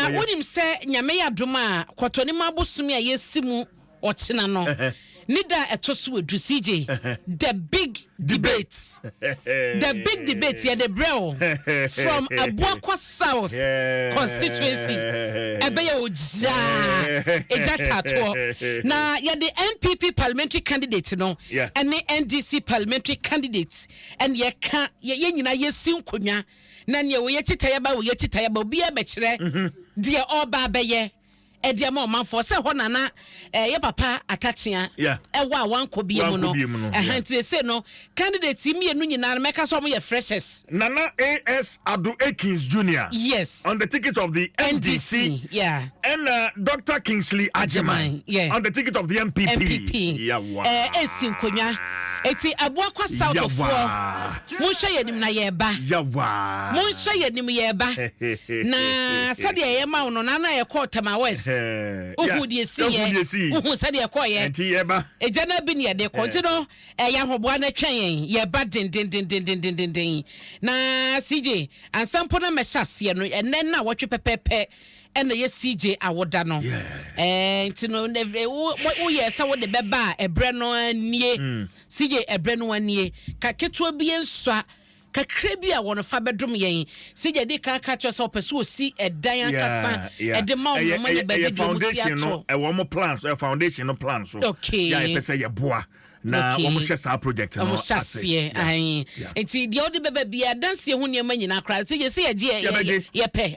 Na wonim sɛ Nyame yɛ adom a Kwɔtɔnim abosome a yɛsi mu ɔkyena no ne da a ɛtɔ so edu, CJ, The Big Debate, The Big Debate, yɛde brɛ wo from Abuakwa South Constituency, ɛbɛyɛ ogyaa, egya taatoɔ, na yɛde NPP Parliamentary Candidate no ɛne NDC Parliamentary Candidate ɛne ɛka, yɛn nyinaa yɛsi nkonnwa. na nea ɔyɛ kyitayaba ɔyɛ kyitayaba, obiara bɛkyerɛ deɛ ɔreba abɛyɛ ɛde ama ɔmanfoɔ sɛ hɔ na na eh, yɛ papa atakyea yeah. ɛwɔ a wankɔ bie mu no ɛha nti ɛsɛ no candidate mmienu nyinaa no mɛka sɛ ɔmoyɛ freshers nana as ado akins junior yes on the ticket of the ndc, NDC yeah. and uh, dr kingsley ajeman yeah. on the ticket of the mpp ɛsi eh, nkonnwa ɛti aboakwa southfoɔ Monhwɛ yɛn anim na yɛreba. Yawa. Monhwɛ yɛn anim yɛreba. Na sɛdeɛ ɛyɛ ma wo no, na na yɛkɔɔ Tema West. Wohuu deɛ ɛsiiɛ. Wohuu sɛdeɛ ɛkɔeɛ. Ɛnti yɛba. Egya no abi ne yɛde kɔ. Nti no, ɛyɛ ahoboa na ɛtwɛn yɛn. Yɛba dendendendendenden. Na CJ, ansa mpo na mɛhyɛ aseɛ no, ɛnnɛ nnawɔtwe pɛpɛɛpɛ ɛna ɛyɛ CJ awoda no. Ɛɛ, nti no, woyɛɛ sɛ wode bɛba a, ɛberɛ no ara nie. Sigye ɛberɛ no ara nie, ka ketewa bi nsua kakra bi a wɔfa bɛdom yɛn. Sigye dii kan ka kyerɛɛ sɛ ɔpɛ sɛ ɔsi ɛdan ankasa de ma wɔn ma yɛ baabi deɛ wɔn ti ato. Ɛwɔ wɔn plan so, ɛyɛ foundation no plan so yɛ a yɛpɛ sɛ yɛboa na wɔn hyɛ saa project no ase. Wɔn hyɛ aseɛ, nti deɛ wode bɛba biara, adansie ho nneɛma nyinaa koraa, sigye sɛ yɛgye yɛ pɛ.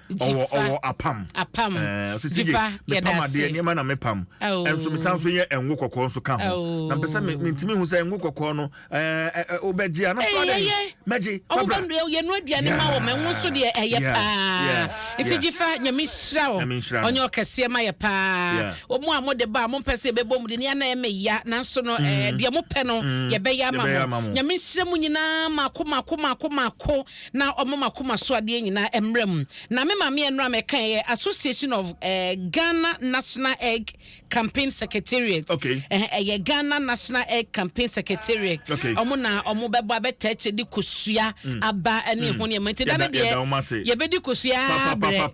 ɔwɔ ɔwɔ apam apam ɛɛ ɔsi si yɛ mepam adeɛ nneɛma na mepam ɛnso mesan so yɛ ɛngo kɔkɔɔ nso ka ho na mpɛ sɛ me ntumi hu sɛ ɛngo kɔkɔɔ no ɛɛ ɛɛ ɔbɛgye a na fɔ adɛ mɛgye fabra yɛ no aduane ma wɔn ɛngo nso deɛ ɛyɛ paa nti gye fa nyame nhyira o ɔnyɛ ɔkɛseɛ ma yɛ paa wɔn a mo de ba a mo mpɛ sɛ ɛbɛbɔ mu de ne ana ɛmɛ ya nanso no ɛɛ deɛ mo pɛ no yɛbɛyɛ ama mo nyame nhyira mu nyinaa mako mako mako mako na ɔma m'akoma so adeɛ nyinaa mmra mu. Na me maame ɛno a mɛka yɛ Association of eh, Ghana National Egg Campaign Secretariat. Okay. Eh, ɛyɛ Ghana National Egg Campaign Secretariat. Okay. Ɔmo na ɔmo bɛbɔ abɛtaa akyire de kosua mm. aba ne mm. ho nneɛma. Nti da no deɛ yɛbɛdi kosua abrɛ.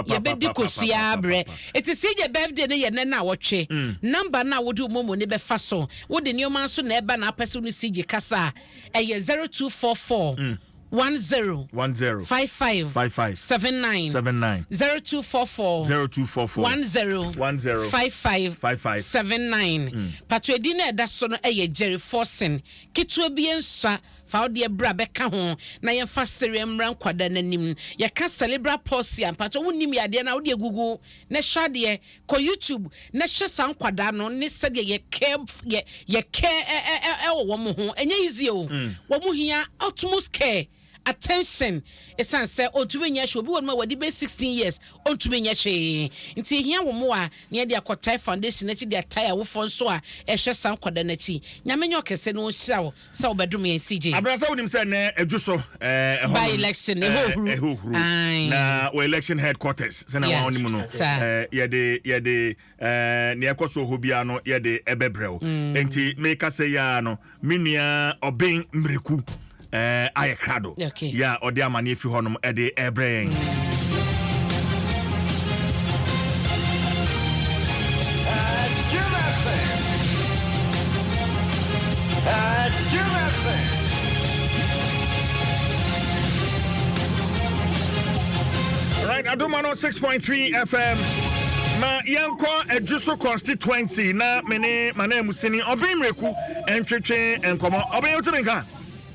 Yɛbɛdi kosua abrɛ. Eti sɛ yɛ birthday no yɛ nɛ na wɔtwe. Mm. Namba no a wode ɔmo mu ne bɛfa so. Wode nneɛma nso na ɛba na apɛ so no si gye kasa. Ɛyɛ zero two four four one zero five five seven nine zero two four four one zero five five seven nine pato edin na ɛda so no ɛyɛ Jerry Forson ketewa bi nsua fa wo deɛ bra bɛka ho na yɛn fa sereɛ mmra nkwadaa n'anim yɛka cerebral palsy a mpato wo nim yadeɛ na wo deɛ gugu na ɛhyɛ adeɛ Kɔ YouTube na hwɛ saa nkwadaa no ne sɛdeɛ yɛ care yɛ yɛ care ɛwɔ wɔn ho ɛnyɛ easy o mm. wɔn hia utmost care attention ɛsan sɛ ɔntumi nyɛ hwɛ obi wɔ no ma wɔde bɛ sixteen years ɔntumi nyɛ hwee nti ehia wɔn mu a nea de akɔtae foundation akyi de atae awofoɔ nso a ɛhwɛ saa nkwadaa no akyi nyame nyɛ ɔkɛse na ɔnhyira wo. sɛ ɔbɛdom yɛn CJ. Abena sɛ wonim sɛ nɛ ɛdwo so ɛɛ ɛhɔ. By election ɛhɔ huru. Ɛhɔ huru. Na wɔ election headquarters sɛ na wɔn anim no ɛɛ yɛde yɛde ɛɛ nea ɛkɔ so hɔ biara no yɛde ɛbɛbrɛ o. Mm. Nti meka sɛ yaa no me nua ɔben mmireku ɛɛ ayɛ krado. yɛ a ɔde amaneɛ fi hɔnom de rebrɛ yɛn. right adoma no 6.3 fm na yɛnkɔ adwuso constituency na mene manamusini ɔben mmerɛku ntwetwe nkɔmmɔ ɔben wote me nka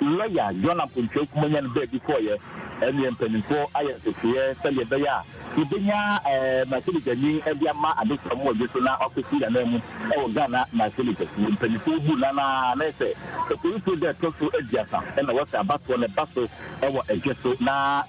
Lɔya John Apontua Kumah nyan baabi kɔeɛ ne mpanimfoɔ ayɛ nteteeɛ sɛdeɛ ɛbɛyɛ a yɛbɛnya Marsili Gyani de ama Adesua Moagye so na wakɔsi ananmu wɔ Ghana Marsili Kɛseɛ mpanimfoɔ buu no anaa na ɛsɛ Oforisuo da a ɛtɔ so aduasa na wɔsɛ abatoɔ no ba so wɔ Ɛgye so na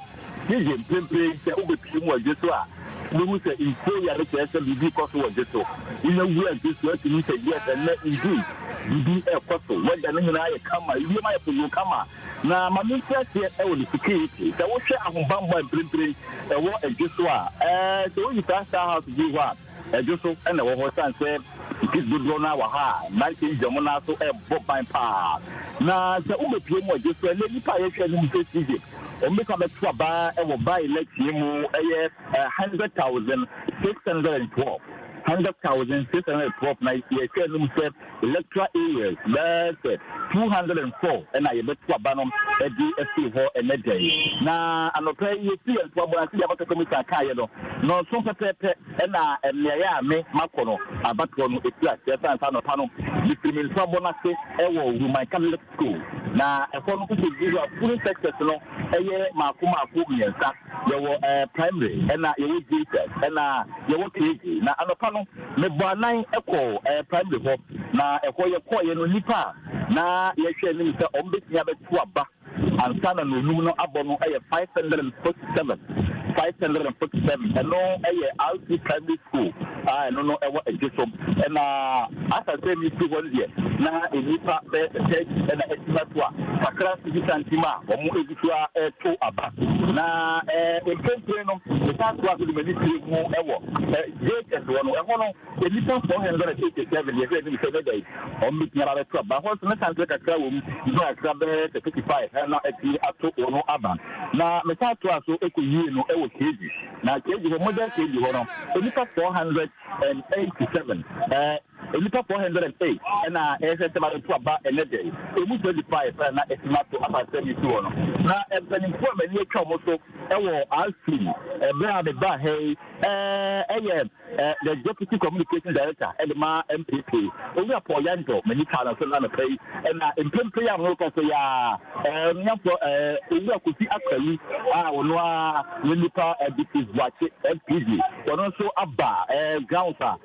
Yiye, mprempren sɛ wobepue mu wɔ dwe so a, wubehu sɛ nsuo yɛ ade kyerɛ sɛ biribi rekɔ so wɔ dwe so. Wonya wura dwe so a, tumi sɛ, Yes, ɛnnɛ, indeed, biribi rekɔ so. Weather no nyinaa ayɛ kama, ewiem ayɛ poyoo kama. Na ma menkyerɛ aseɛ wɔ ne security. Sɛ wohwɛ ahobammɔ a mprempren ɛwɔ dwe so a, ɛɛ, sɛ woyi saa Star House bio hɔ a, Ɛdwo so na ɛwɔ hɔ esiane sɛ Sikh dodoɔ no ara wɔ ha a mmeranteɛ yi gyina wɔn nan ase rebɔ ban pa ara. Na sɛ wobɛpue mu a, gye sɛ ɛnnɛ nnipa a yɛhwɛ anim sɛ Sikhs, wɔbɛtumi abɛto aba wɔ ban no akyi mu ɛyɛ hundred thousand six hundred and twelve. Hundred thousand six hundred and twelve na yɛhwɛ anim sɛ. Electoral areas bɛyɛ sɛ two hundred and four na yɛbɛto aba no de afiri hɔ ɛnnɛ da yi. Na anɔpa yi yɛfiri yɛn ntomago no ase sɛdeɛ Abatoɔ Commissioner kaeɛ no, nnɔnson pɛpɛɛpɛ na mmeaeɛ a me makɔ no abatoɔ no firi aseɛ. Ɛsiane saa anɔpa no mefiri me ntomago no ase wɔ Wuman Catholic School. Na ɛhɔ no wosɛ gu hɔ a polling sectors no yɛ mmaako mmaako mmiɛnsa. Yɛwɔ primary ɛna yɛwɔ JSS ɛna yɛwɔ KG na anɔpa no me bɔ anan kɔɔ primary hɔ na ɛhɔ yɛ kɔɔeɛ no nnipa a na yɛhwɛ anim sɛ wɔn bɛtumi abɛto aba ansa na nɔnum no abɔ no yɛ five hundred and forty seven five hundred and forty seven ɛno yɛ RC primary school a ɛno no ɛwɔ Adwosom ɛna asasɛ mi fi hɔ no deɛ na nnipa bɛyɛ sɛ thirty ɛna ɛtima to a kakra nso bi santim a wɔn tua to aba. Na mprempren no, mesan toa so de m'ani bue mu wɔ Jacobs hɔ no. Ɛhɔ no, nnipa 487 yɛ hwɛ anim sɛ ɛbɛda yi wɔn betumi aba abɛto aba. Ɛhɔ nso, ne sankyerɛ kakra wom, gyina ɛkra bɛyɛ sɛ 35 na atumi ato wɔn aba. Na mesan toaa so kowiee no wɔ Kegi. Na Kegi hɔ, modern Kegi hɔ no, nnipa 487 Nnipa four hundred and eight na ɛrehwɛ nsɛm a ɛretu aba ɛnnɛ da yi. Emu twenty five pɛ na na atumi ato akwansrɛ no asi hɔ no. Na mpanyimfo a m'ani atwa wɔn so wɔ Asfi bere a mebaa ha yi yɛ the Deputy Communications Director de ma NPP, Owura Paul Yandor. M'ani twaa no nso na anɔpa yi na mprempren a merekasa yi ara Onuafoɔ Owura Kofi Akwali a ɔno ara ne nipa Ditis Boakye, FPD, ɔno nso aba grounds a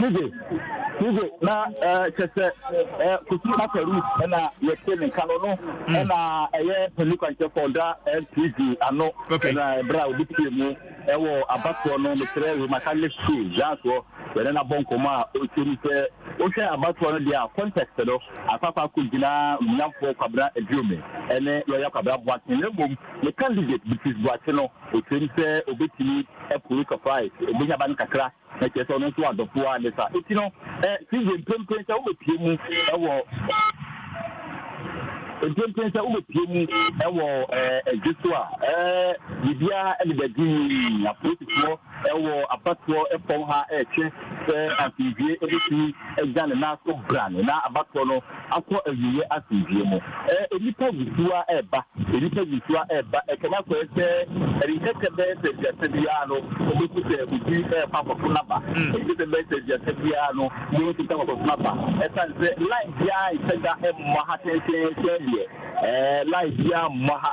Tije tije na ɛɛ kyɛ sɛ ɛɛ Kofi Makarus ɛna yɛte ne nka no no hmm. ɛna ɛyɛ pɛli kwankyɛfo ɔda NPG ano ɛna ɛbrɛ a obi pie mu ɛwɔ abatoɔ no mekyerɛ wɔ maka ne su yansoɔ yɛne no abɔ nkɔmmɔ a ɔkyɛ mu sɛ wohwɛ abatoɔ no deɛ a context no akɔakɔ akɔ gyinaa nyamfoɔ kwabena aduome ɛne lɔya kwabena boakye na mmom ne candidate bitis boakye no ɔkyerɛ mu sɛ obɛtumi apue surprise obɛnya ba no kakra Na kyerɛ sɛ ɔno nso adɔfo ara ne saa. Enti no, Sylvia, mprempren sɛ wobɛpue mu wɔ mprempren sɛ wobɛpue mu wɔ ɛdwe so a, biribiara deda dinn. Apolisifoɔ wɔ abatoɔ fam ha retwe sɛ asomdwie bɛtumi agya ne nan so brane, na abatoɔ no akɔ awieɛ asomdwoeɛ mu. Ɛɛ nnipa wusuo ara reba, nnipa wusuo ara reba, ɛkɛm akɔɛ sɛ ɛrenkɛkɛ bɛyɛ sɛ aduasa bi ara no wobɛhu sɛ obi rekɔ akɔto n'aba, ɛnkɛkɛ sɛ ɛbɛyɛ sɛ aduasa bi ara no wobɛhu sɛ obi rekɔ akɔto n'aba, ɛsiane sɛ line biara nhyɛ da mmɔ ha tententen sɛdeɛ ɛɛ line biara mmɔ ha.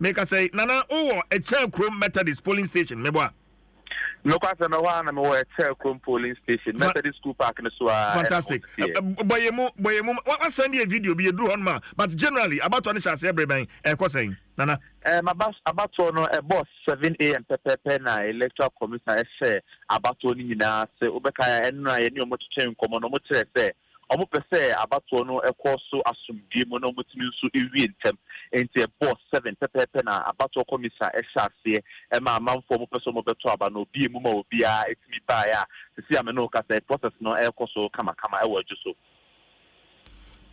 Me ka sɛ, Nana, wo wɔ Ɛkyɛɛ Kurom Methodist Polling Station, me boa? Nokwasɛm, ɛhɔ ara na me wɔ Ɛkyɛɛ Kurom Polling Station, Methodist School Park no so ara, ɛna Fantastic. obi teɛ. Bɔ yɛn mu, bɔ yɛn mu. Wa, wa send yɛn video bi, yɛduru hɔ nom a. But generally, abatoɔ no hyɛ aseɛ bere bɛn? Ɛkɔ sɛn, Nana? Eh, m'aba, abatoɔ no, ɛbɔɔ seven AM pɛpɛɛpɛ na Electoral Commission hyɛɛ abatoɔ no nyinaa ase. Wobɛkae a, ɛno na yɛne wɔn twetwee nkɔmmɔ no, wɔkyerɛɛ sɛ Wɔpɛ sɛ abatoɔ no kɔ so asomdwoeɛ mu na wɔtumi nso wie ntɛm. Enti ɛbɔ seven pɛpɛɛpɛ na abatoɔ kɔmisa hyɛ aseɛ. Ɛma amanfoɔ a wɔpɛ sɛ wɔbɛto aba no, wɔbue mu ma obiara tumi baeɛ a seesei a me ne wo rekasa yi, process no rekɔ so kamakama wɔ adwo so.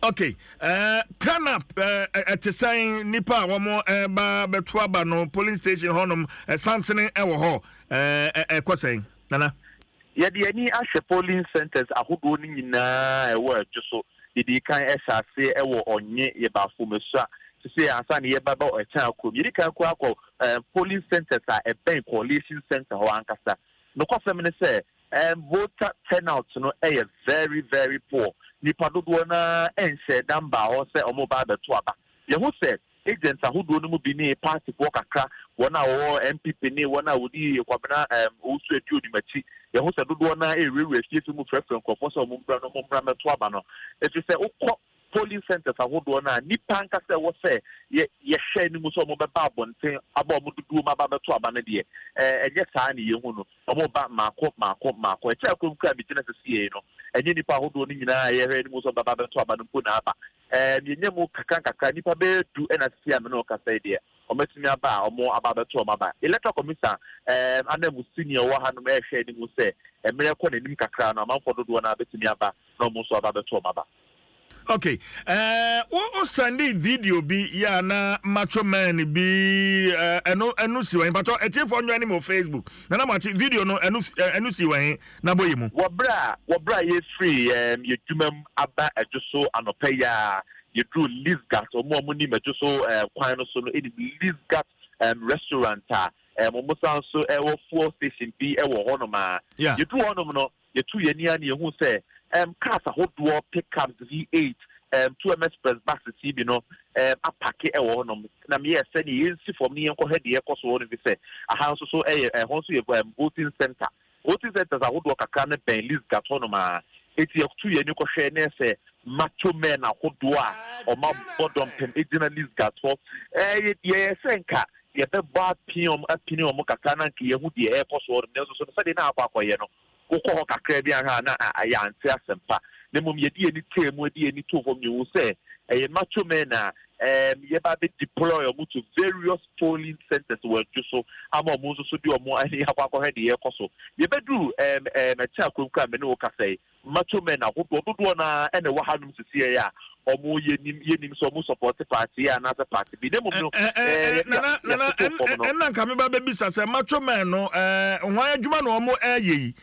Ok, eh, turn up eh, ɛte sɛn nnipa a wɔreba bɛto aba no polling station hɔnom, eh, sansene wɔ hɔ, eh, ɛkɔ sɛn, Nana? Yɛde yɛn ani ahwɛ polling centres ahodoɔ no nyinaa a ɛwɔ Adwo so, yɛdii kan hyɛ aseɛ wɔ Ɔnye, yɛbaa Fomasua, sesei ansa na yɛreba bɛ Ɔkyɛn Kurom. Yɛdi kan koraa kɔ ɛɛ polling centres a ɛbɛn Coalition Centre hɔ ankasa. Nokwasɛm ne sɛ, ɛɛ voter turnout no yɛ very very poor. Nnipa dodoɔ no ara nhyɛɛ da mbaa hɔ sɛ wɔreba abɛto aba. Yɛhu sɛ Agents ahodoɔ no mu bi ne partyfoɔ kakra, wɔn a wɔwɔ NPP ne wɔn a wɔdi Kwabena um, Owusu Aduonim akyi. Yɛho sɛ dodoɔ no ara ɛrewurawura afiefie mu frɛfrɛ nkurɔfoɔ sɛ wɔmmra no, mommra mmɛto aba no. Ɛfiri sɛ wokɔ polling centres ahodoɔ no a, nnipa ankasa ɛwɔ sɛ yɛ, yɛhwɛ anim sɛ wɔbɛba abɔnten aba wɔn dodoɔ mu aba abɛto aba no deɛ, ɛɛ, ɛnyɛ saa ne yɛhu no. Wɔba mmaako mmaako mmaako. Akyire akɔm kura megyina sɛ CA no, ɛnyɛ nnipa ahodoɔ no nyinaa a yɛhwɛ anim sɛ wɔbɛba abɛto aba no mpo na aba. Ɛɛ, mienya mu nkakrankakra, nnipa bɛyɛ du na sisi a me ne wo kasa yi deɛ, wɔatumi aba a wɔaba abɛto wɔn aba. Electoral Commission ɛɛm ananmusini a ɔwɔ hanom rehwɛ anim sɛ mmerɛ rekɔ n'anim kakra no, amanfoɔ dodoɔ no ara bɛtumi aba na wɔn nso aba abɛto wɔn aba. Ok, ɛɛ, wo wo sɛndee video bi yɛ a na Macho Man bi ɛɛ, ɛno ɛno si wɔ he? Mpakyɛw, atiefoɔ nnwane me wɔ Facebook na na moate video no ɛno si ɛɛ, ɛno si wɔ he? na bɔ yɛ mu. Wɔ berɛ a wɔ berɛ a yɛrefiri yɛn adwuma mu aba adwo so anɔpa yi ara, yɛduruu Lisgat. Wɔn a wɔnim adwo so kwan no so no nim Lisgat restaurant a wɔsan nso wɔ fuel station bi wɔ hɔnom ara. Yɛduruu hɔnom no, yɛtuu yɛn ani ara na yɛhuu sɛ cars ahodoɔ, pickups, V8, two MS Press buses yi bi no apake wɔ hɔnom. Na meyɛɛ sɛ neɛ yɛnsi fam na yɛnkɔhwɛ deɛ ɛrekɔ so wɔ hɔnom, ɛfiri sɛ aha nso so yɛ, ɛhɔ nso yɛ voting center. Voting centres ahodoɔ kakra no bɛn Lysgat hɔnom ara, enti yɛtuu yɛn ani kɔhwɛɛ na ɛsɛ macho men ahodoɔ a wɔabɔ dɔmpem gyina Lysgat hɔ. Ɛyɛ deɛ ɛyɛ sɛ nka yɛbɛbɔ apee wɔn, apini wɔn kakra na nka yɛahu deɛ ɛrekɔ so hɔnom, nanso so no sɛdeɛ na akɔ akɔyɛ no, wokɔ hɔ kakra bi anhwɛ a na yɛante asɛmpa, na mmom yɛde yɛn ani tee mu, de yɛn ani too fam, na yɛhuu sɛ ɛyɛ macho men a ɛɛm yɛba abɛ deploy wɔn to various. polling centres wɔ adwo so ama wɔn nso so de wɔn ani akɔ akɔhwɛ deɛ ɛrekɔ so. Yɛbɛduru ɛɛm ɛɛm ɛkyɛ akuakuo a me ne wo kasa yi, macho men ahodoɔ dodoɔ no ara na ɛwɔ hanom sesieɛ a wɔyɛ nim yɛnim sɛ wɔn sɔpɔɔte party yi anaasɛ party bi na mmom no Ɛ- ɛ- ɛɛ ɛ- yɛde nana yɛde nana yɛatoto ɛn- fam ɛ- no. ɛnna nka meba bɛbisa sɛ macho men no ɛɛ hwan adwuma na wɔn ɛɛyɛ yi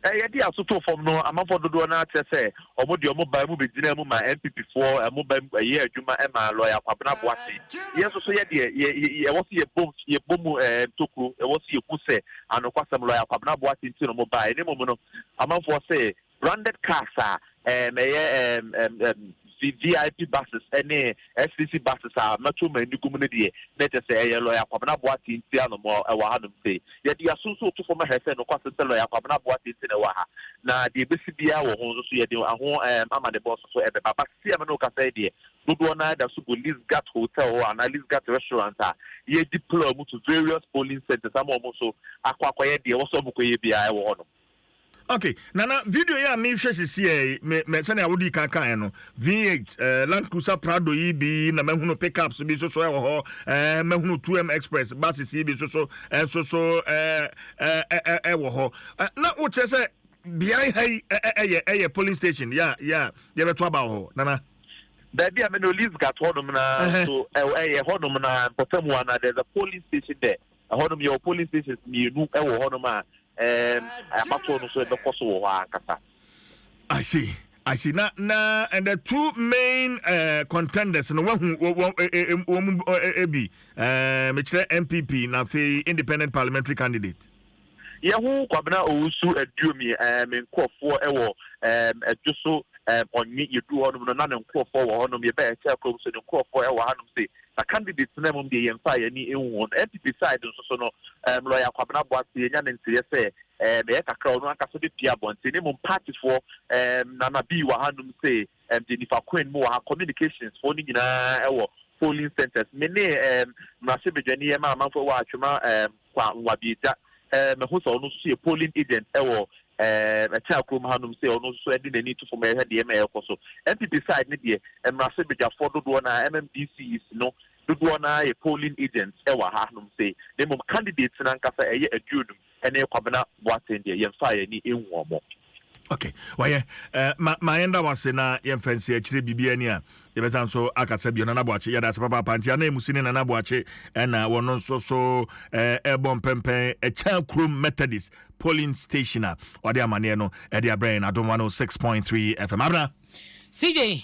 Yɛde aso too fam no, amanfoɔ dodoɔ no ara kyerɛ sɛ wɔn deɛ wɔn baa mu bɛgyinaa mu maa NPP foɔ, wɔn ba mu yɛɛ adwuma maa Lɔya Kwabena Boateng. Yɛn nso so yɛ deɛ yɛ yɛ ɛwɔ sɛ yɛbom yɛbɔ mu ntokuro, ɛwɔ sɛ yɛhu sɛ anokwasɛm Lɔya Kwabena Boateng nti na wɔn baeɛ. Na mmom no, amanfoɔ se branded cars a Ɛɛm ɛyɛ ɛɛm ɛɛm ɛɛm VVIP buses ɛne SCC buses a mɛto m'ani gu mu no deɛ, na kyerɛ sɛ ɛyɛ Lɔya Kwabena Boateng nti a na ɔmo ɛwɔ ha nom sei. Yɛde yɛaso nso reto fam ahɛ sɛ nokwasɛm sɛ Lɔya Kwabena Boateng nti na ɛwɔ ha. Na deɛ ɛbɛsi biara wɔ ho nso so yɛde ɛho ɛɛm amanebɔ nso so ɛbɛba. But seesei a me ne wo kasa yi deɛ, dodoɔ no ara da so gu Lisgat Hotel hɔ anaa Lisgat Restaurant a yɛredeploy ɔmo to various polling centres ama ɔmo nso akɔ akɔyɛ deɛ ɛwɔ sɛ ɔmo kɔyɛ biara ɛwɔ hɔ nom. Ok nana video yi a mehwɛ sisi ɛ me me sɛnea wodi kan kan no V8 eh, Land Cruiser Prado yi bi na mahunu pickups bi soso ɛwɔ hɔ eh, mahunu 2M Express buses yi bi soso ɛnso so eh, eh, eh, eh, ɛwɔ hɔ eh, na wokyerɛ sɛ beae ha yi eh, eh, ɛyɛ ɛyɛ polling station ya ya yɛbɛto aba wɔ hɔ nana. Baabi a me no Lisgat hɔnom na so ɛyɛ hɔnom na mpɔtamu ana there's a polling station there. Ɛhɔnom yɛwɔ polling stations mmienu wɔ hɔnom a ɛɛm abatoɔ no nso ɛbɛkɔ so wɔ hɔ ankasa. I see, I see. Na na and the two main uh, contenders no wahu wɔn mu ebi mekyerɛ NPP na afei independent parliamentary candidate. Yɛ ho Kwabena Owusu Aduomi eh me nkurɔfoɔ wɔ eh Adwo so eh Ɔnye yɛduru hɔnom no na ne nkurɔfoɔ wɔ hɔnom yɛbɛɛ Ɛkyɛɛ kurom so ne nkurɔfoɔ wɔ hanom se na candidates tena mum deɛ yɛmfa yɛn ani nhu wɔn NPP side nso so no eh Lɔya Kwabena Boase yɛnya ne nteeɛ sɛ eh ɛyɛ kakra ɔno ankasa bɛpie abɔnten ne mmom partyfoɔ eh Nana Bii wɔ hanom se ɛde nifa kwan mu wɔ ha communications foɔ no nyinaa ɛwɔ polling centres me ne ɛɛm mmarahyɛ badwani ɛma amanfoɔ ɛwɔ atwema ɛɛm kwa nwabiagya ɛɛm ɛho sɛ ɔno nso yɛ polling agent ɛwɔ ɛɛm ɛkyɛn akurom ha nom sɛ ɔno nso ɛde n'ani to fam ɛhwɛ deɛ ɛma ɛkɔ so npp side ne deɛ mmarahyɛ badwafoɔ dodoɔ na mmdcs no dodoɔ na yɛ polling agents ɛwɔ ha nom sɛ na mmom candidates no ankasa ɛyɛ aduonum. ɛne Kwabena Boateng deɛ yɛmfa yɛn ani nhu wɔn. Okay, wayɛ eh, ma ma yɛn da wase na yɛn fɛnsi akyire biribi ani a yɛbɛsan nso akasa bio Nana Boakye yɛda ase papaapa nti anan mu si ne Nana Boakye ɛna eh, wɔn nso so eh, ɛbɔ mpɛmpɛn ɛkyɛn eh, kurom Methodist polling station a ɔde amaneɛ no ɛde abrɛ yɛn adomwa no 6.3 FM abena CJ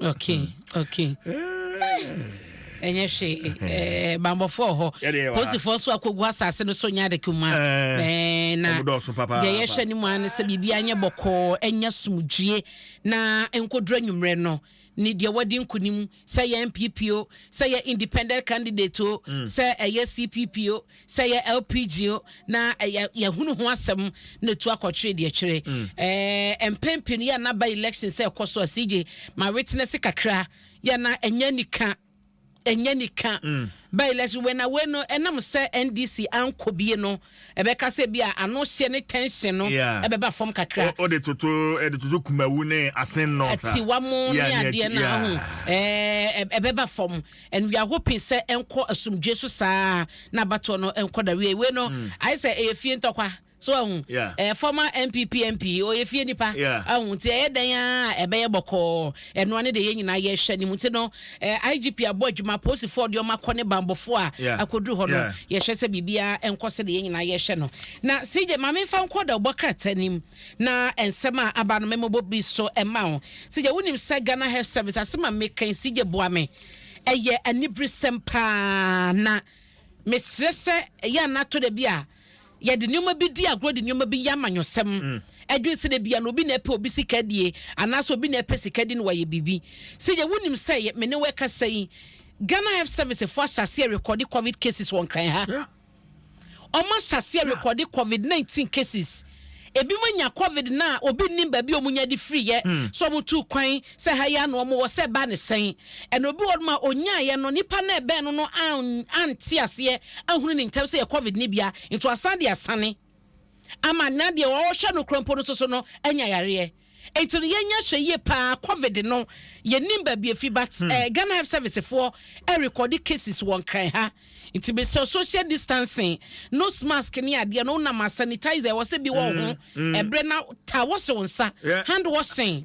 okay hmm. okay ɛnyɛ hwee ɛɛ bambɔfoɔ hɔ posifoɔ so akɔgu asase no so nyɛ ade kuma ɛɛ na deɛ yɛhwɛ ne mu ano sɛ biribi anyɛ bɔkɔɔ ɛnyɛ sumdue na nkodoro enyimrɛ no ne deɛ wɔde nkunim sɛ yɛ npp o sɛ yɛ independent candidate o hmm. sɛ ɛyɛ cpp o Sɛ ɛyɛ LPG o, na ɛyɛ yɛhunu ho asɛm na etu akɔtwere deɛ kyerɛ. Ɛɛ mpɛn pii no yɛ na ba election sɛ ɛkɔ so a CJ ma witness kakra yɛ na ɛnyɛ nika ɛnyɛ nika ba election wei na wei no ɛnam sɛ NDC ankɔ bie no ɛbɛka sɛ bi a ano hyɛ ne tension no Yeah. ɛbɛba fam kakra. O- Ɔde toto ɛde toto kumawu ne asen north a. atiwa mo Yeah, ne ne adeɛ akyi- no yeah. ahu ɛɛ ɛbɛba fam. Nnua ho pi sɛ ɛnkɔ asomdwoe so saa ara na abatoɔ no nkɔ n'awieeɛ. Wei no, mm. ayɛ sɛ ɛyɛ fie ntɔkwa. So ahu yeah. eh, former NPP MP ɔyɛ fie nipa yeah. ahu nti ɛyɛ dɛn a ɛbɛyɛ bɔkɔɔ ɛnoa ne deɛ yɛn nyinaa yɛhwɛ ne mu nti no eh, IGP abɔ adwuma polisifoɔ deɛ ɔma kɔ ne bambɔfoɔ a yeah. akɔduru hɔ no yeah. yɛhwɛ sɛ biribiara nkɔ sɛ deɛ yɛn nyinaa yɛhwɛ no na CJ maame nfa nkɔ da ɔbɔ krataa nim Na nsɛm a aba no mɛmɔbɔ bi so ɛma wo. Sɛ gya wonim sɛ Ghana Health Service asɛm a meka yi sɛ gya boa me ɛyɛ aniberesɛm paa na mesrɛ sɛ ɛyɛ a nato da bi a yɛde nneɛma bi di agorɔ de nneɛma bi yɛ amanyɔsɛm ɛdwene sɛ da bia na obi na ɛpɛ obi sika die anaasɛ obi na ɛpɛ sika di no wayɛ biribi sɛ gya wonim sɛ me ne wɛkasa yi Ghana Health Service fo ahyɛ aseɛ rekɔde covid cases wɔ nkran ha. Yeah. Wɔn ahyɛaseɛ rekɔde covid nineteen cases. Ebinom anya covid no a obi nnim baabi a wɔnya de firiiɛ. Hmm. So wɔn tuu kwan sɛ ha yi ano wɔn wɔ sɛ ɛbaa ne sɛn. Ɛna obi wɔ hɔnom a ɔnyaaeɛ no nipa no a ɛbɛn no no an ante aseɛ ahunu ne ntɛm sɛ yɛ covid no bia nti wasan de asane. ama na deɛ ɔrehwɛ no korɔ mpo no soso no anya yareɛ nti no yɛnya hwɛ yie paa covid no yɛnim baabi efi but hmm. eh, Ghana health service foɔ ɛrekɔde cases wɔ nkran ha nti mesɛ social distancing nose mask ne adeɛ no wonam a sanitizer ɛwɔ sɛ bi wɔ ho hmm, hmm. ɛberɛ na ta wɔhye wo nsa hand washing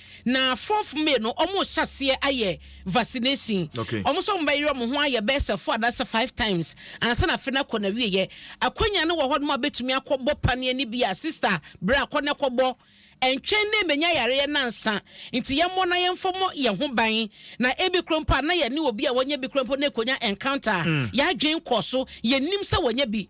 Na fourth May no ɔmo hyɛ aseɛ ayɛ vaccination. Okay. Ɔmo sɛ ɔmo bɛyere ɔmo ho ayɛ bɛyɛ sɛ four anaasɛ five times ansa na afe no akɔ n'awieɛ. Akwanya no wɔ hɔ nom a wobɛtumi akɔ bɔ paneɛ no bi a sister bra kɔ na kɔbɔ. Ɛntwɛn na ɛmmɛnya yareɛ no ansa. Nti yɛmmɔ na yɛmfa mmɔ yɛn ho ban. Na ebi koraa mpo a na yɛne obi a wanya bi koraa mpo na ɛkɔnya encounter a, yɛn adwene nkɔɔ so, yɛnnim sɛ wanya bi.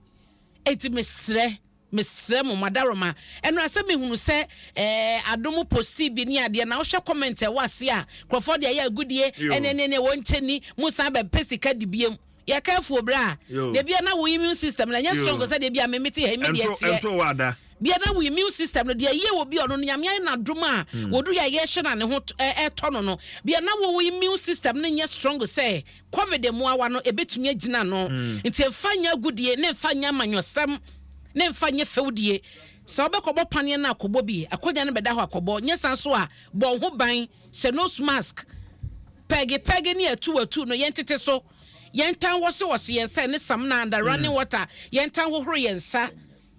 Enti mesrɛ Mesrɛ mo madaroma ɛno asɛ mehunu sɛ ɛɛ adom postii bi ne adeɛ na wohwɛ comment ɛwɔ aseɛ a nkurɔfoɔ de ayɛ agudie ɛne ne ne wɔnkyɛ ni mo san bɛ pɛ sika di biom yɛ careful bra deɛ bia na wo immune system no ɛnyɛ strong sɛ deɛ bia me mete ha yi me deɛ teɛ bia na wo immune system no deɛ yɛ wɔ bi ɔno no nyame ayɛ no adom a wɔdu yɛ yɛhyɛ na ne ho ɛtɔ no no bia na wo immune system no nyɛ strong sɛ Covid mmoawa no, ebetumi agyina ano. Enti mfa nyɛ agodie, ne mfa nyɛ amanyɔsɛm, ne mfa nyɛ fɛwdie. Sɛ wobɛkɔbɔ paneɛ no a, kɔbɔ bi. Akonnwa no bɛda hɔ a, kɔbɔ. Nyɛ saa nso a, bɔ wo ho ban. Hyɛ nose mask. Pɛɛge pɛɛge ne atuu atuu no, yɛntete so. Yɛntan wɔhye wɔhye yɛn nsa ne samina, under running water. Yɛntan hohoro yɛn nsa.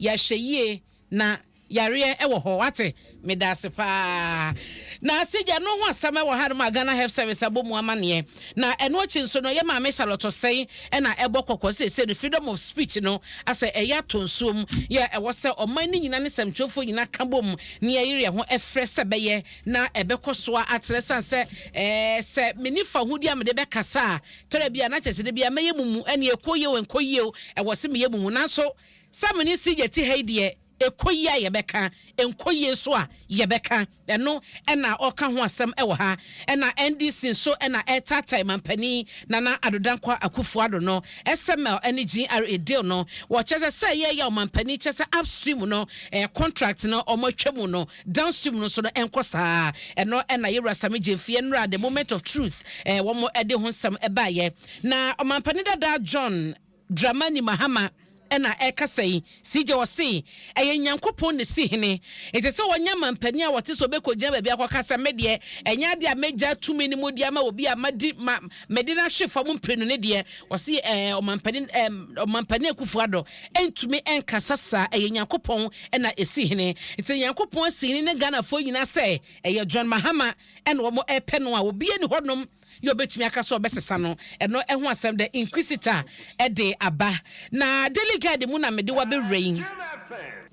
Yɛahwɛ yie na. Yareɛ ɛwɔ hɔ wate medase paa na sigya no ho asɛm ɛwɔ ha nom a Ghana health service abɔ mu amaneɛ na ɛno akyi nso no yɛ maame Charlotte Osei ɛna ɛbɔ kɔkɔ seesei no freedom of speech no asɛ ɛyɛ atɔ nsuo mu yɛ ɛwɔ sɛ ɔman no nyina ne sɛmtwerɛfoɔ nyina ka bom ne yɛ yere yɛ ho ɛfrɛ sɛ bɛyɛ na ɛbɛkɔ soa atrɛ sane sɛ ɛɛ sɛ meni fahodie a mede bɛ kasa a tɔrɛ bia na kyɛ sɛ dabia mɛyɛ mumu ɛne ɛkɔ yie o ɛnkɔ yie o ɛwɔ se meyɛ mumu nanso sɛ mene sigya ti ha yi deɛ Ɛkɔ yie a yɛbɛka, ɛnkɔ yie nso a yɛbɛka. Ɛno na ɔreka ho asɛm wɔ ha. Ɛna NDC nso na ɛretaatae manpanin Nana Addo Dankwa Akuffo Addo no. SML ne GRA deal no, wɔkyerɛ sɛ sɛ yɛreyaw manpanin kyerɛ sɛ upstream no contract no wɔatwa mu no, downstream no nso no ɛnkɔ saa. Ɛno na Yewura Sammy Gyamfi nnora The Moment of Truth wɔde ho nsɛm baeɛ. Na ɔmanpanin dada John. Dramani Mahama na ɛrekasa yi, CJ ɔse ɛyɛ Nyankopɔn na esi hene. Enti sɛ wɔnya mampanin a wɔte sɛ ɔbɛkɔgyina baabi akɔka sɛ me deɛ ɛnyɛ adeɛ a mɛgyaa tumi no mu de ama obi a madi ma mede no ahwe fam mprenu no deɛ, ɔse ɛɛ Ɔmampanin ɛɛ Ɔmampanin Akuffo Addo ntumi nkasa saa, ɛyɛ Nyankopɔn na esi hene. Enti Nyankopɔn asi hene ne Ghanafoɔ nyinaa sɛ ɛyɛ John Mahama na wɔn ɛrepɛ no a obiara nni hɔnom Yɛ obetumi aka sɛ ɔbɛsesa no. Ɛno ho asɛm dɛ Inquisitor de aba. Na Daily Guide mu na mede wo abɛwura yi.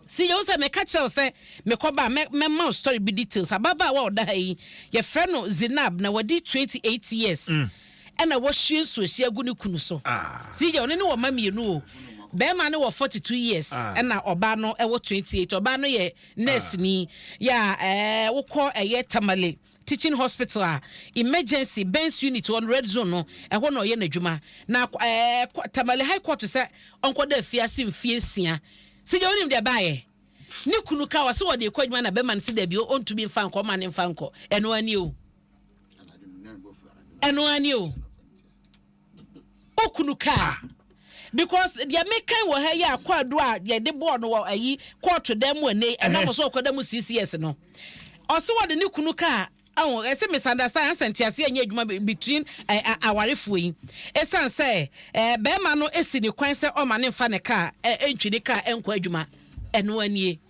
Sɛ yɛhu sɛ meka kyerɛ wo sɛ mekɔba a, mɛ, mɛma wo story bi details. Ababaawa a ɔda ha yi, yɛfrɛ no Zeinab, na wadi twenty eight years. Ɛna wahwie nsuohyeɛ agu ne kunu so. See deɛ, ɔno ne wɔn mma mmienu o. Barima no wɔ forty two years, ɛna ɔbaa no wɔ twenty eight. Ɔbaa no yɛ nɛɛseni. Yeah, ɛɛ, wokɔ ɛyɛ Tamale. Teaching Hospital a Emergency Burns Unit wɔ no, Red Zone no, ɛhɔ na ɔyɛ n'adwuma. Na akɔ ɛɛ kɔ Tamale High Court sɛ ɔnkɔda afiase mfeɛ nsia. Sigya wonim deɛ ɛbaeɛ? Ne kunu kaa ɔse ɔde rekɔ adwuma na bɛrima no se dabi o, ɔntumi mfa nkɔ, ɔmma no mfa nkɔ. Ɛno ara nie o. Ɛno ara nie o. okunu kaa because deɛ mekan wɔ ha yi a kwaadu a yɛde bɔɔ no wɔ ayi kɔɔto dan mu ɛnɛ ɛnam sɛ ɔkɔda mu six years no ɔse wɔde ne kunu kaa ɛho ɛsɛ misunderstand ansa nteaseɛ nyɛ adwuma between awarefoɔ yi ɛsiane sɛ bɛrima no si ne kwan sɛ ɔma ne mfa ne kaa ɛntwi ne kaa ɛnkɔ adwuma ɛno anie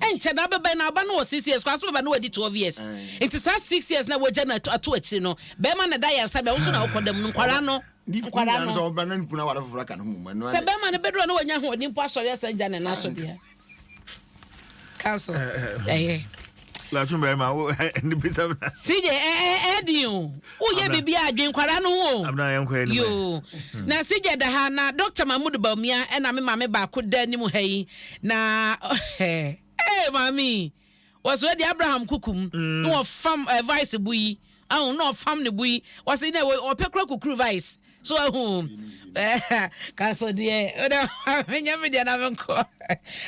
Ɛnkyɛ da bɛbɛn na aba no wɔ six years kora so bɛba na wadi twelve years nti saa six years na wagya no ato akyiri no bɛrima na da yaresa bɛn nso na wokɔ dɛm no nkwadaa no nkwadaa no sɛ bɛrima no bɛdura na wanya ahoɔden mpo asɔre asan gya ne naso deɛ council ɛyɛ. Latin bɛrima wo ɛni bisa. Sije ɛɛ ɛɛ di o. Woyɛ biribi a dwen kwadaa no ho o. Yoo. Na Sigya da ha na Doctor Mahmood Bawumia ɛna me maame baako da anim ha yi na ee maame yi wɔsɔ adi Abraham Kukum mm. na wɔfam eh, vice bu yi ahun na wɔfam ne bu yi wɔsi na wɔpɛ kura kukuru vice. so ahu kaso deɛ wode menyɛ me deɛ na menkɔ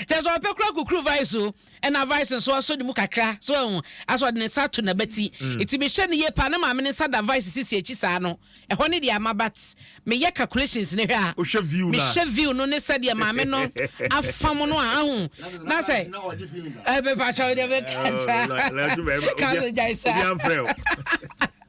kyɛ sɛ ɔpɛ kora kukuru vice so ɛna vice nso asɔ ne mu kakra so ahu asɔ de ne nsa to nabati ɛti mm. mehyɛ no yie paa ne maame ne nsa da vice sisi akyi saa no ɛhɔ ne deɛ ama bat meyɛ calculations ne hwɛ a mehyɛ view no ne sɛdeɛ maame no afa mu no a ahu na sɛ ɛbɛpakyɛw deɛ mɛkasa kaso gyae saa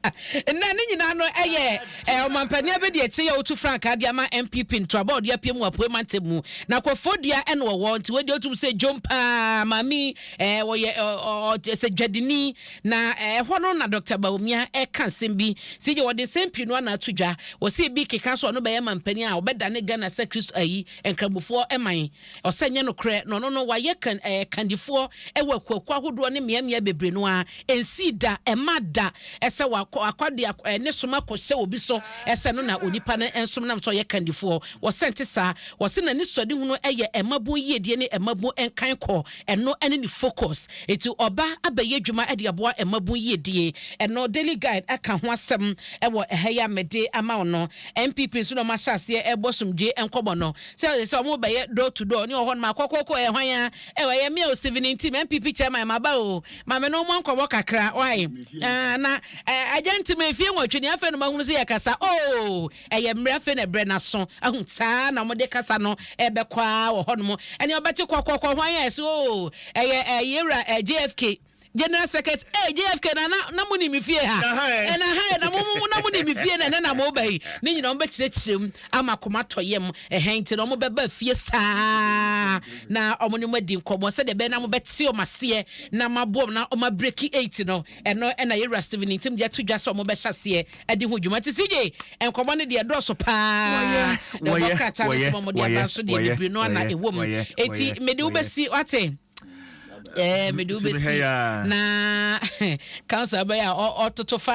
Nnɛ, ne nyinaa no yɛ ɔmampanin abadiakyire yi a ɔtu frankaa de ama NPP ntoraba a ɔde apue mu Apuei mantam mu. Na Kɔfoɔ Dua na ɔwɔ, nti wei deɛ wotum sɛ dwom paa, maame yi ɔyɛ sɛ dwadini, na ɛhɔ no na Dɔkta Bawumia ɛka nsɛm bi, nti deɛ ɔde nsɛm pii no ana ato dwa, ɔsɛ ebi keka sɛ ɔno bɛyɛ mampanin a ɔbɛdane Ghana sɛ Kristo ayi Nkramofoɔ man. Ɔsɛ nyɛ nokorɛ na ɔno no wayɛ kan ɛɛ kandifoɔ wɔ akuakuo ahodoɔ ne mmeammea bebree no ara ɛnsii da ɛmma da sɛ wakɔ akɔ de ɛɛ ne som akɔ hyɛ obi so sɛ ɛno na onipa no nsom nam sɛ ɔyɛ kandifoɔ wɔsɛ ɛnte saa wɔse n'anisoadehunu yɛ mmabun yiedie ne mmabun nkan kɔ ɛno ne ne focus enti ɔba abɛyɛ adwuma de aboa mmabun yiedie ɛno Daily Guide aka ho asɛm wɔ ɛha yi a mede ama wo no NPP nso na wɔahyɛ aseɛ ɛrebɔ asomdwoeɛ nkɔmmɔ no sɛ ɔyɛ sɛ ɔmo bɛyɛ door to door ne wɔ hɔ nom a kɔkɔɔkɔ ɛyɛ hwan aa ɛwɔ ɛyɛ me a o Stephen nti me NPP chairman maba oo ma me ne wo mmɔ nkɔmɔ kakra why aa na ɛɛ agya nti me fie nwɔtwe ni afei na mahunu sɛ yɛ kasa oo ɛyɛ mmerɛ afei na ɛbrɛ naso ahu saa na ɔmo de kasa no ɛɛbɛkɔ aa wɔ hɔ nom ɛnea ɔbɛte kɔkɔɔkɔ hwan aa ɛse oo ɛyɛ ɛɛ yɛwura ɛɛ JFK General secret ee JFK na na na mo nim me fie ha ɛna ha na mo mo na mo nim me fie na ɛnɛ na mo ba yi ne nyinaa wɔn bɛ kyerɛkyerɛ mu ama kɔma tɔ yam ɛhɛn nti na wɔn bɛ ba fie saa na wɔn ne mo adi nkɔmɔ sɛdeɛ bɛyɛ na mo bɛ te wɔn aseɛ na ma boɔ na wɔn abiriki eight no ɛno ɛna yɛ wura Steven nti mo deɛ to dwa sɛ wɔn bɛ hyɛ aseɛ ɛde ho dwuma ti si gye nkɔmɔ ne deɛ dɔɔso paa na wɔn krataa no sɛ wɔn deɛ abanso deɛ bebree no ana ɛwɔ mu eti mede wo bɛ si wate. mede wobɛsi na council bɛyɛ a ɔtoto fa